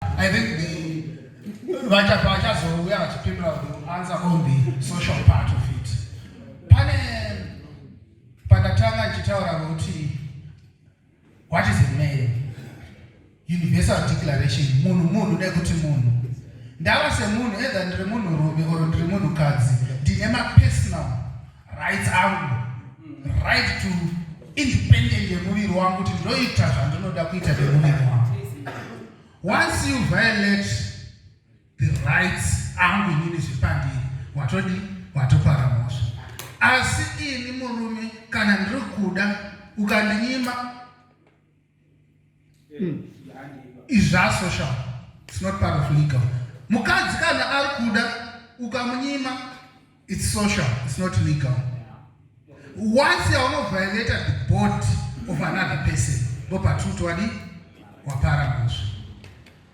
I think the vachafa vachazouya vachipindura to answer on the social part of it. Pane pandatanga ndichitaura kuti what is a man? Universal declaration munhu munhu nekuti munhu ndava semunhu either ndiri munhu rume or ndiri munhu kadzi ndine mapersonal rights angu right to independent yemuviri wangu kuti ndoita zvandinoda kuita nemuviri wangu once you violate the rights angu inini zvipandiri watodi watopara mhosva asi ini murume kana ndiri kuda ukandinyima Hmm. izvi asocial its not part of legal mukadzi kana ari kuda ukamunyima its social its not legal once yaunoviolata the body of another person ndopatiri kuti wadi wapara muzvi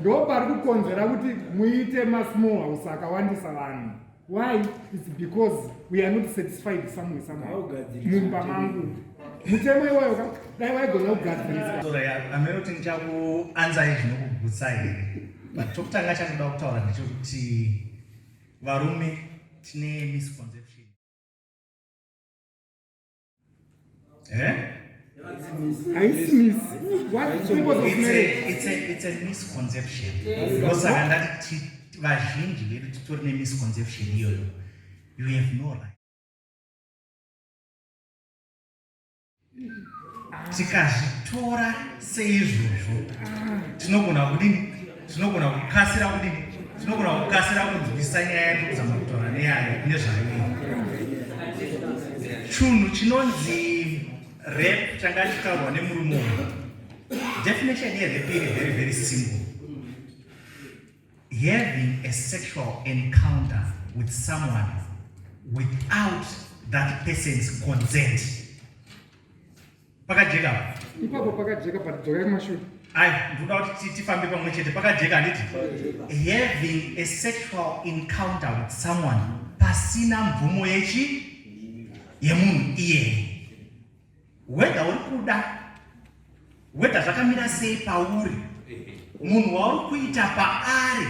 ndo pari kukonzera kuti muite masmall house akawandisa vanhu why its because we are not satisfied somewhere somewhere mumba mangu mutemo iwayo ka dai waigona kugadzirisaameroti ndichakuanzai zvinokugutsa here but chokutanga chandoda kutaura ndechokuti varume tine misconception Eh? haisi misconception ndosaka ndati vazhinji vedu titori nemisconception iyoyo you have no right tikazvitora seizvozvo tinogona kudini tinogona kukasira kudini tinogona kukasira kunzwisa nyaya yake kuzama kutaura neyayo nezvayo chunhu chinonzi rep changa chitaurwa nemurume uyu definition yerep iri very very simple having a sexual encounter with someone without that person's consent pakajeka ipapo pakajeka but dzokai kumashure ai ndinoda kuti tifambe pamwe chete pakajeka handiti having a sexual encounter with someone pasina mvumo yechi yemunhu iyeye wedha uri kuda wedha zvakamira sei pauri munhu wauri kuita paari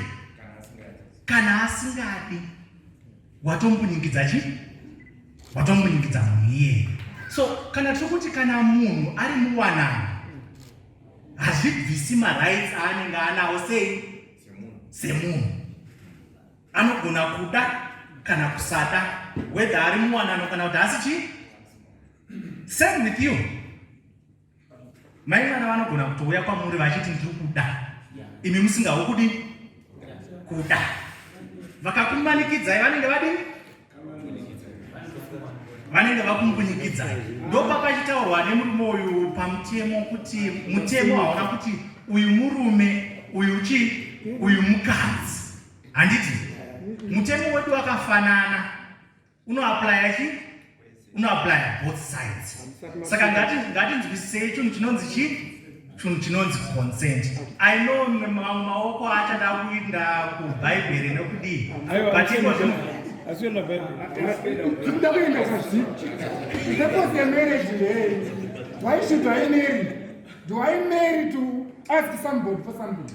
kana asingadi watombunyikidza chi watombunyikidza munhu iyeye so kana tiri kuti kana munhu ari muwanano hazvibvisi marights aanenge anawo sei semunhu anogona kuda kana kusada wedha ari muwanano kana kuti asi chii same with you Mai mwana vanogona kutouya kwamuri vachiti ndiri kuda imi musingawo kudi kuda vakakumanikidzai vanenge vadini vanenge vakumbunyikidzai ndopapachitaurwa nemurume uyu pamutemo kuti mutemo haona kuti uyu murume uyu chi uyu mukadzi handiti mutemo wedu wakafanana unoaplya chi unoaplya both sides saka ngatinzwisisei chunhu chinonzi chi chunhu chinonzi consent i know mamwe maoko acha ndakuinda kubhaibheri nekudii but iko zvino asiona zvekuda kuenda kuziti purpose yemarriage ndeyei why should i marry do i marry to ask somebody for something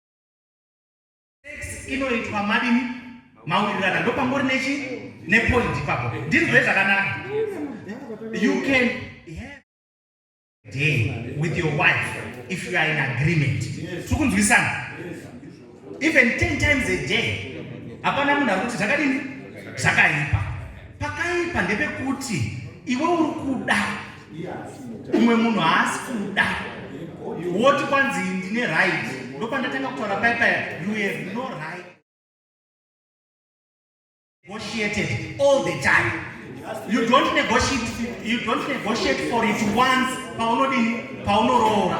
inoitwa madini maurirana ndopambori nechi nepoint ipapo ndinzwe zvakanaka you can day with your wife if you are in agreement tiri kunzwisana even 10 times a day hapana munhu ari kuti zvakadini zvakaipa pakaipa ndepekuti iwe uri kuda umwe munhu haasi kuda woti kwanzi ndine right ndopandatanga kutaura pai paya you have no right negotiated all the time you don't negotiate, you don't negotiate for it once paunodini paunoroora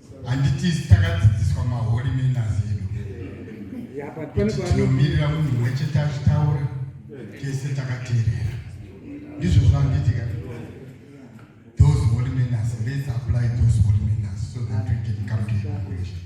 handiti takadzidziswa maholy manners edu tinomirira munhu mwe chete achitaura tese takateerera ndizvo zvanditi ka those holy manners let's apply those holy manners so that we can come to evaluation